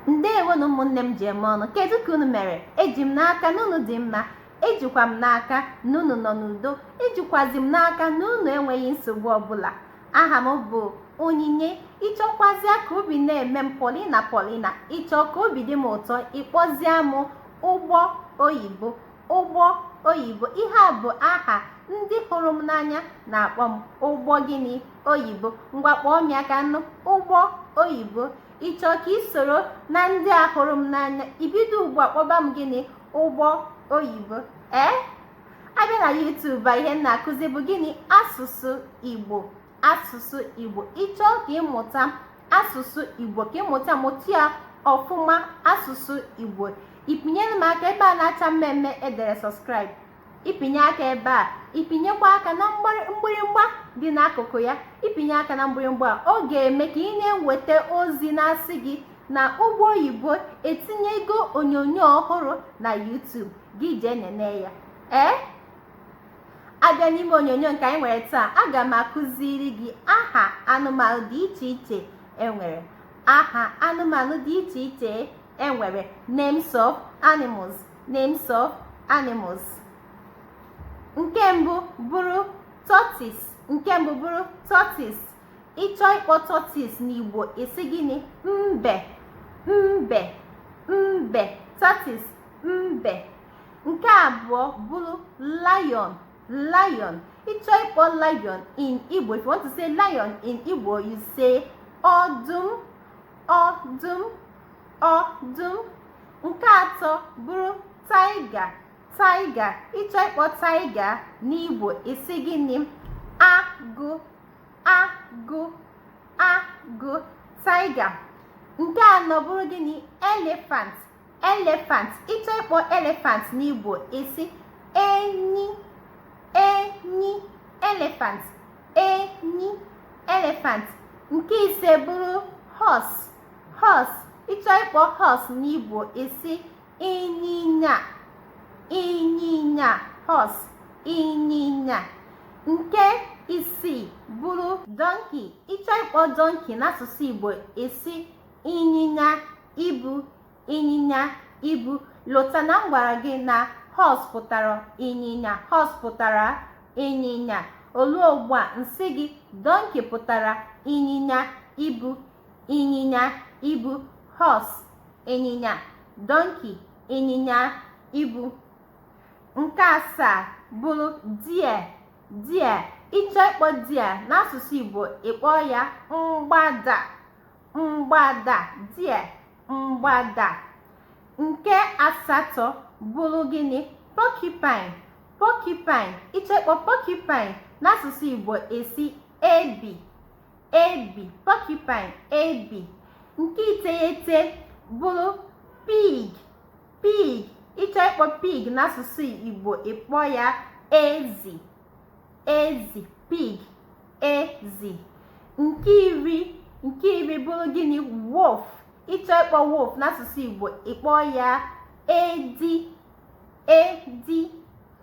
ndewonu ụmụnne m ji eme ọnụ kedu ka unu mere eji m n'aka na unu dị mma ejikwa m n'aka na unu nọ n'udo ejikwazi m n'aka na unu enweghị nsogbu ọbụla aha m bụ onyinye ị chọkwazie ka obi na-eme m polina polina ị chọọ ka obi dị m ụtọ ị kpọzie m ụgbọ oyibo ụgbọ oyibo ihe a bụ aha ndị hụrụ m n'anya na-akpọ m ụgbọ gịnị oyibo ngwa kpọọ m ya ka m nụ ụgbọ oyibo ị chọọ ka ị soro na ndị a hụrụ m n'anya i bido ugbu a kpọba m gịnị ụgbọ oyibo ee a bịa na YouTube a ihe m na-akụzi bụ gịnị asụsụ Igbo asụsụ Igbo ị chọọ ka ị mụta asụsụ Igbo ka ị mụta mụta ya ọfụma asụsụ Igbo ị pịnyere m aka ebe a na-acha mmee mmee e dere subscribe ị pịnye aka ebe a ị pịnyekwa aka na mgbịrịmgba dị n'akụkụ ya ị pịnye aka na mgbịrịmgba ọ ga-eme ka ị na-enweta ozi na-asị gị na ụgbọ oyibo etinyego onyonyo ọhụrụ na YouTube gị jee nene ya ee a bịa n'ime onyonyo nke anyị nwere taa aga m akụziri gị aha anụmanụ dị iche iche e nwere aha anụmanụ dị iche iche e nwere names of animals Names of animals. Nke mbụ bụrụ tortoise. Nke mbụ bụrụ tortoise. Ị chọọ ịkpọ tortoise n'Igbo ị sị gịnị? Mbe. Mbe. Mbe. Tortoise. Mbe. Nke abụọ bụrụ lion. Lion. Ị chọọ ịkpọ lion in Igbo. If you want to say lion in Igbo, you say ọdụm. Ọdụm. ọdụm nke atọ bụrụ tiger tiger ị chọọ ịkpọ tiger n'igbo ị sị gịnị agụ agụ agụ tiger nke anọ bụrụ gịnị elephant elephant ị chọọ ịkpọ elephant n'igbo ị sị enyi enyi elephant enyi elephant nke ise bụrụ horse horse ị chọọ ịkpọ horse n'Igbo ị sị ịnyịnya ịnyịnya horse ịnyịnya nke isii bụrụ donkey ị chọọ ịkpọ donkey n'asụsụ Igbo ị sị ịnyịnya ibu ịnyịnya ibu lota na m gwara gị na horse pụtara ịnyịnya horse pụtara ịnyịnya o lu ugbu a m sị gị donkey pụtara ịnyịnya ibu ịnyịnya ibu horse ịnyịnya donkey ịnyịnya ibu nke asaa bụrụ deer deer ịchọ ịkpọ deer n'asụsụ Igbo ịkpọ ya mgbada mgbada deer mgbada nke asatọ bụrụ gịnị porcupine porcupine ịchọ ịkpọ porcupine n'asụsụ Igbo ị sị ebi ebi porcupine ebi nke iteghete bụrụ pig pig ịchọ ịkpọ pig n'asụsụ igbo ịkpọ ya ezi ezi pig ezi nke iri nke iri bụrụ gịnị wolf ịchọ ịkpọ wolf n'asụsụ igbo ịkpọ ya edi edi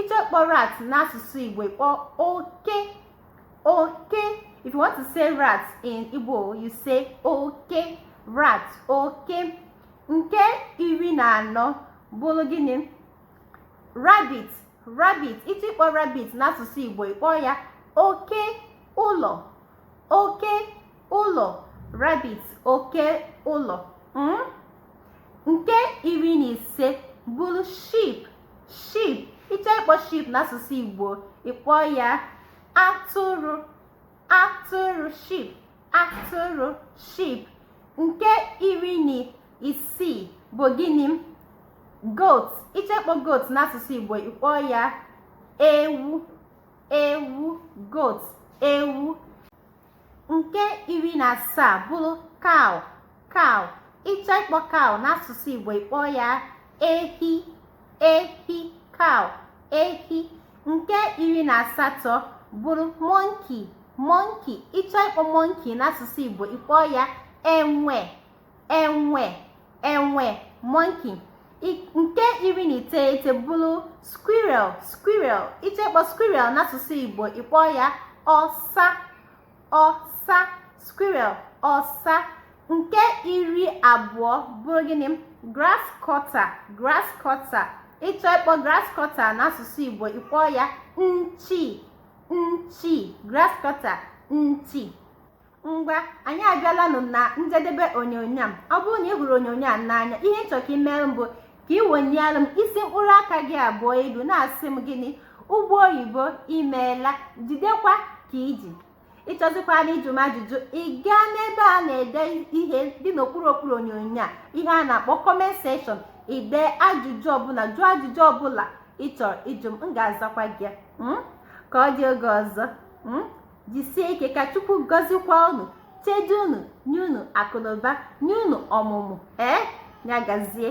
ịchọ ịkpọ rat n'asụsụ igbo ịkpọ oke oke if you want to say rat in igbo you say oke rat oke nke iri na anọ bụrụ gịnị rabbit rabbit ịchọ ịkpọ rabbit n'asụsụ igbo ịkpọ ya oke ụlọ oke ụlọ rabbit oke ụlọ hmm? nke iri na ise bụrụ sheep sheep ịchọ ịkpọ sheep n'asụsụ Igbo ịkpọ ya atụrụ atụrụ sheep atụrụ sheep nke iri na isii bụ gịnị goat ịchọ ịkpọ goat n'asụsụ Igbo ịkpọ ya ewu ewu goat ewu nke iri na asaa bụrụ cow cow ịchọ ịkpọ cow n'asụsụ igbo ịkpọ ya ehi ehi cow ehi nke iri na asatọ bụrụ monkey monkey ịchọ ịkpọ monkey n'asụsụ igbo ịkpọ ya enwe enwe enwe monkey nke iri na iteghete bụrụ squirrel squirrel ịchọ ịkpọ squirrel n'asụsụ igbo ịkpọ ya ọsa ọsa squirrel ọsa nke iri abụọ bụrụ gịnị grass cutter grass cutter ịchọ ịkpọ grass cutter n'asụsụ igbo ịkpọ ya nchi nchi grass cutter nchi ngwa anyị abịalanụ na njedebe onyonyo a ọ bụrụ na ị hụrụ onyonyo a n'anya ihe m chọ ka i mere m bụ ka ị wenyere m isi mkpụrụ aka gị abụọ elu na-asị m gịnị ụgbọ oyibo i meela jidekwa ka i ji ịchọzikwanụ ịjụ m ajụjụ ị gaa n'ebe a na-ede ihe dị n'okpuru okpuru onyonyo a ihe a na-akpọ comment section i dee ajụjụ ọbụla jụọ ajụjụ ọbụla ị chọrọ ịjụ m m ga-azakwa gị hmm? ka ọ dị oge ọzọ hmm? jisie ike ka chukwu gọzikwa unu chedo unu nye unu akụnụba nye unu ọmụmụ ee ya gazie